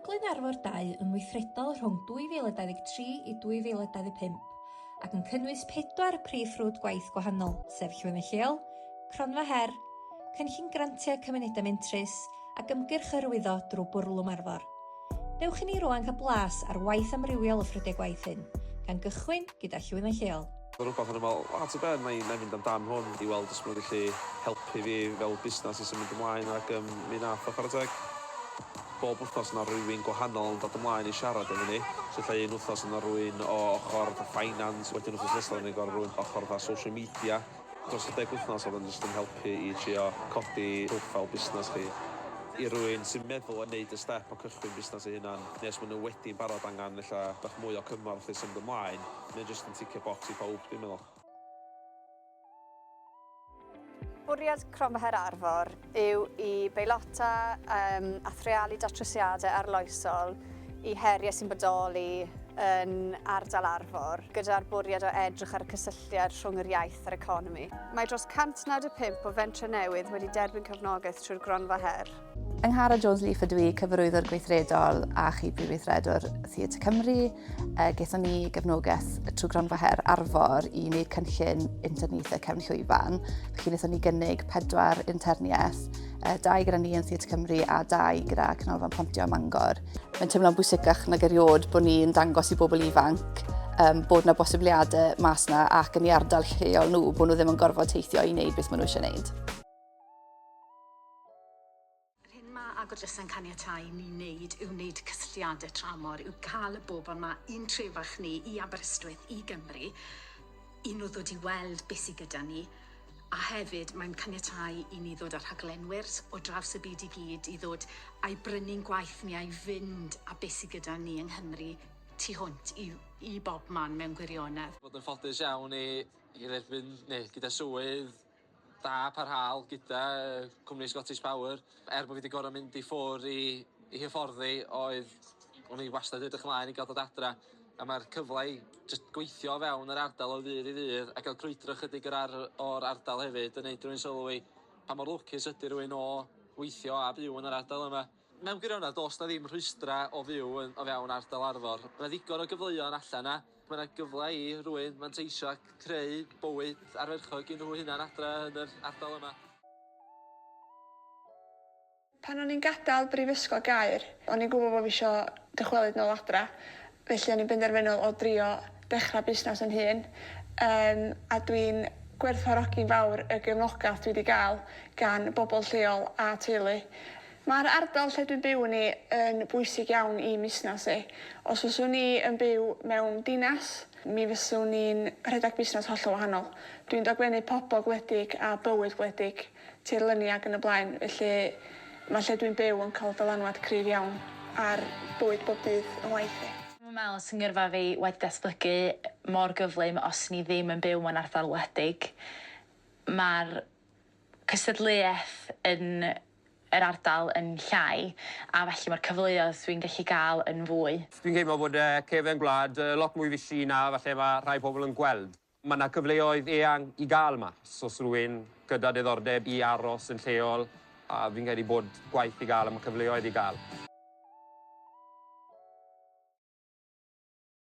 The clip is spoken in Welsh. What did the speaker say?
Glynu arfor dau yn weithredol rhwng 2023 i 2025 ac yn cynnwys pedwar prif ffrwd gwaith gwahanol, sef Llwyfan Lleol, Cronfa Her, Cynllun Grantiau Cymunedau Mentrus ac Ymgyrch Hyrwyddo drwy Bwrlwm Arfor. Dewch i ni rŵan cael blas ar waith amrywiol y ffrydiau gwaith hyn, gan gychwyn gyda Llwyfan Lleol. Mae rhywbeth yn ymweld â at y ben, na i na i fynd amdan hwn i weld os mae'n gallu helpu fi fel busnes i symud ymlaen ac yym mi wnaeth o chwarae teg. Bob wythnos mae 'na rywun gwahanol yn dod ymlaen i siarad efo ni. So ella un wythnos mae 'na rywun o ochr fatha finance, wedyn wythnos nesaf mae 'na gorau rywun ochr fatha social media. Dros y deg wythnos oedd o'n jyst yn helpu i trio codi profile busnes chi. I rywun sy'n meddwl o wneud y step o cychwyn busnes ei hunan, neu os maen nhw wedi'n barod angen ella bach mwy o cymorth i symud ymlaen, mae o jyst yn ticio bocs i pawb dwi'n meddwl. Bwriad Cronfa Her Arfor yw i beilota um, a threalu datrysiadau arloesol i heriau sy'n bodoli yn ardal Arfor, gyda'r bwriad o edrych ar y cysylltiad rhwng yr iaith a'r economi. Mae dros 195 o fentre newydd wedi derbyn cefnogaeth trwy'r gronfa her. Angharad Jones Leaf ydw i, cyfarwyddwr gweithredol a chi prif weithredwr Theatr Cymru. E, Gaethon ni gefnogaeth trwy gronfa her Arfor i wneud cynllun interniaethau cefn llwyfan. Felly wnaethon ni gynnig pedwar interniaeth, e, dau gyda ni yn Theatr Cymru a dau gyda Canolfan Pontio ym Mangor. Mae'n teimlo'n bwysicach nag erioed bod ni'n dangos i bobl ifanc um, bod yna bosibiliadau mas yna ac yn ei ardal lleol nhw, bod nhw ddim yn gorfod teithio i wneud beth maen nhw eisiau wneud. Yr hyn mae Agor Drysa'n caniatáu i ni wneud yw wneud cysylltiadau tramor, yw cael y bobl 'ma i'n trefach ni, i Aberystwyth, i Gymru, i nhw ddod i weld beth sydd gyda ni, a hefyd mae'n caniatáu i ni ddod â rhaglenwyr o draws y byd i gyd i ddod a'i brynu'n gwaith ni, a'i fynd â beth sydd gyda ni yng Nghymru tu hwnt i i bobman mewn gwirionedd. Bod yn ffodus iawn i i dderbyn neu gyda swydd Da parhaol gyda cwmni Scottish Power. Er bod fi wedi gorfod mynd i ffwr i, i hyfforddi oedd o'n i wastad edrych ymlaen i gael dod adra a mae'r cyfle i just gweithio o fewn yr ardal o ddydd i ddydd a gael crwydro chydig o'r, ar, or ardal hefyd yn neud rhywun sylwi pa mor lwcus ydy rhywun o weithio a byw yn yr ardal yma. Mewn gwirionedd, does 'na ddim rhwystrau o fyw yn o fewn ardal Arfor. Mae 'na ddigon o gyfleon allan 'na. Mae 'na gyfle i rywun fanteisio a creu bywyd ardderchog i nhw hunan adra yn yr ardal yma. Pan o'n i'n gadael Brifysgol Gaer, o'n i'n gwybod bod fi isio dychwelyd nôl adra, felly o'n i'n benderfynol o drio dechrau busnes yn hun, yym, a dwi'n gwerthfawrogi'n fawr y gefnogaeth dwi 'di gael gan bobl lleol a teulu. Mae'r ardal lle dwi'n byw yn i yn bwysig iawn i musnas i. Os fyswn i yn byw mewn dinas, mi fyswn i'n rhedeg busnes hollol wahanol. Dwi'n dogfennu pobl gwledig a bywyd gwledig, tirlenni ac yn y blaen, felly mae lle dwi'n byw yn cael dylanwad cryf iawn ar bywyd bob dydd yn ngwaith i. Dwi'm yn meddwl sy'n ngyrfa fi wedi datblygu mor gyflym os o'n i ddim yn byw mewn ardal wledig. Mae'r cystadleuaeth yn yr ardal yn llai a felly mae'r cyfleoedd dwi'n gallu gael yn fwy. Dwi'n teimlo bod y cefn gwlad lot mwy fishi na falle mae rhai pobl yn gweld. Mae 'na cyfleoedd eang i gael mas os rwy'n gyda diddordeb i aros yn lleol a fi'n credu bod gwaith i gael a mae cyfleoedd i gael.